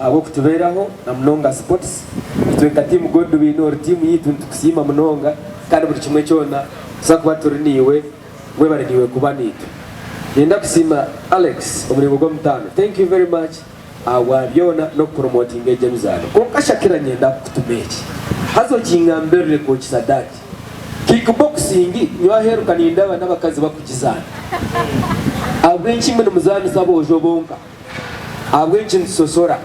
ahabw'okutubeeraho na munonga supports. Itwe nka team Godwin ori team yaitu nitukusiima munonga kandi buri kimwe kyona kuza kuba turi naiwe webare naiwe kuba naitwe. Nenda kusiima Alex omuringo gw'omutaano thank you very much ahabwa byoona n'oku promotinga egi emizaano kwonka Shakira nyenda kukutuma eki haza okingambirire ku okisadati kick boxing nyowe aheeru kanindaba n'abakazi bakugizaana ahabw'enki imwe nimuzaanisa aboojo bonka? Ahabw'enki nitusosoora?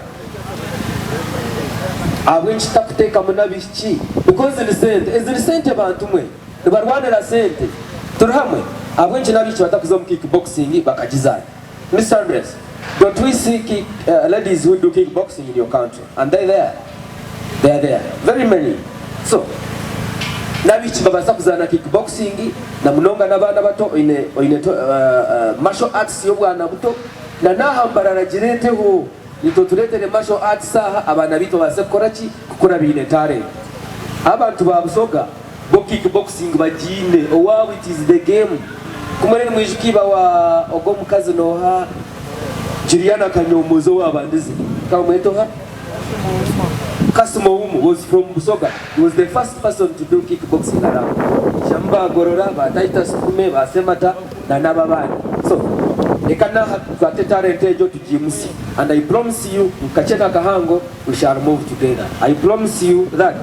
Ahabw'enki tutakuteekamu n'abaishiki? Bikozi ezi ni sente. Ezi ni sente bantu mwe. Nibarwanira sente. Turi hamwe? Ahabw'enki n'abaishiki batakuza omu kick boxing bakagizaana? Miss Andress, don't we see kick ladies who do kick boxing in your country? Aren't they there? They are there. Very many. So, n'abaishiki nibabaasa kuzaana kick boxing, na munonga n'abaana abato oine oine martial arts y'obwana buto. Na n'aha mbarara gireeteho. Nitwe tureetere Martial Arts aha, abaana baitu babaase kukora ki? Kukura baine talenti. Abantu ba Busoga bo Kick Boxing bagiine. Owaabo it is the game. Ku mwena nimwijuka iba wa ogwo mukazi n'oha? Juliana Kanyomozi owaabandize. Ka bamwete oha? Kassim Oumo was from Busoga, he was the first person to do kick boxing around, kwijamu ba Gorora, ba Titus Tugume, ba Semata na naba abandi so reka naha tukwate talent egyo tugyimusye and I promise you mu kakye kakahango we shall move together, I promise you that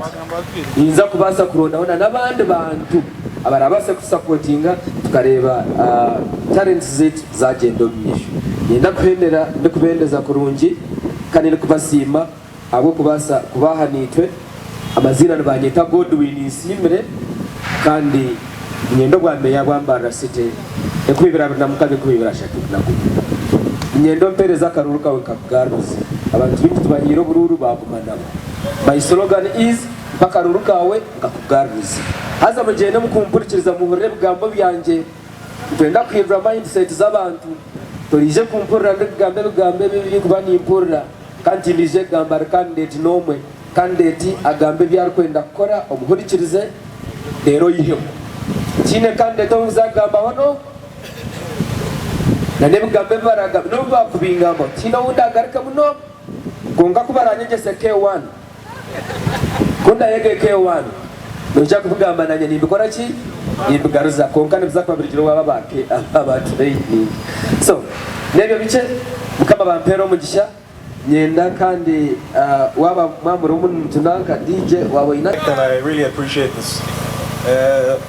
ninza kubasa kurondaho na nabandi bantu. Abarabaase kutusapotinga tukareeba talents zaitu zagyenda omumaisho. Ninyenda kuhendera ndikubendeza kurungi kandi ndikubasiima ahabw'okubaasa kuba aha naitwe. Amaziina nibanyeta Godwin Nsiimire kandi ninyenda obwa Meeya bwa Mbarara City enkumi ibiri abiri na mukaaga enkumi ibiri ashatu na gumwe. Ninyenda ompeereze akaruuru kawe nka Mugarbuzi. Abantu baingi tubahaire oburuuru baaguma nabo. My slogan is, Mpa akaruuru kaawe. Nkakugarurize. Haza mugyende mukumpurikiriza muhurire ebigambo byangye. Nitwenda kuhindura mindset z'abantu. Toriije kumpurira ndirikugamba ebigambo ebi ebinkuba nimpurira kandi tindiije kugamba ahari candidate n'omwe. Candidate agambe ebi arikwenda kukora omuhurikirize reero oyiheho. Tihaine candidate ou nza kugambaho n'ogu na n'ebigambo ebi baragamba n'obu bakubingambaho tihaine ou ndagarikamu n'ogu kwonka ku baranyegyese K1. Ku ndayega eka ewaanyu, noija kubigamba naanye nimbikora ki? Nimbigaruza. Kwonka nibiza kuba birugire owaabo aba ke, aba training. So, n'ebyo bikye. Mukama abampeere omugisha. Nyenda kandi waaba mwaba murimu nimutunanka, DJ, waaba oine. Can I really appreciate this.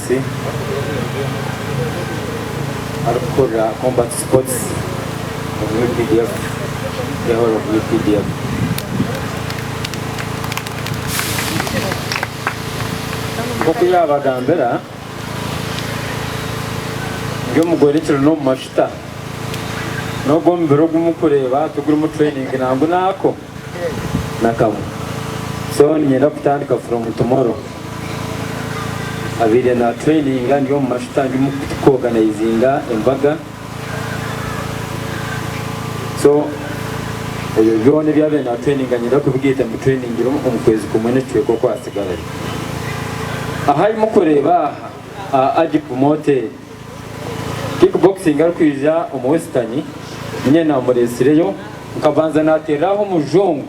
Omubazi arikukurira Combat Sports omu updf the whole of updf. Nk'oku yaabagambira, ndi omugwera ekiro n'omu majuta. N'ogu omubiri ogu murikureeba aha tigurimu training nangwa naako. nakamwe so ninyenda kutandika from tomorrow abaire na traininga ndi omu mashuta ndi ku organizinga embaga so ebyo byona ebi abaire na traininga ninyenda kubigaita mbitrainingire omu kwezi kumwe nekicweka okwatsigarayo ahu arimu kureeba aha Agip motel. Kickboxing arikwija omu Western niinye naamureetsireyo nkabanza naateerera aha omujungu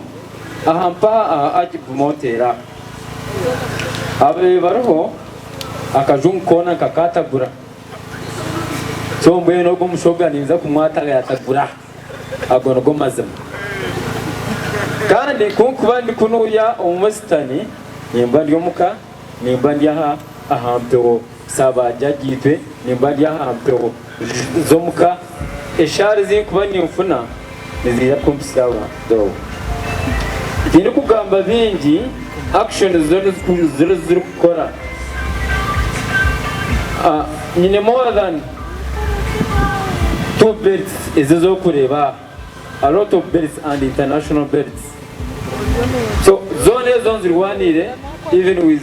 aha mpaha aha Agip Montera abaire bariho akajungu koona nkakaatagura so mbwenu ogwo omushoga ninza kumwatagayatagura ago nigo mazima kandi kunkuba ndi kunuuya omu Western nimba ndi omuka nimba ndi aha aha mpewo. Saba Jaaji itwe nimba ndi aha mpeho z'omu ka. Eshaara ezi nkuba ninfuna niziija kumpisya aha doowa. Tindikugamba bingi, action zo nizo zirikukora. Nyine more than two belts ezi ezi orikureeba aha, a lot of belts and international belts. So zoona ezo nzirwaniire even with.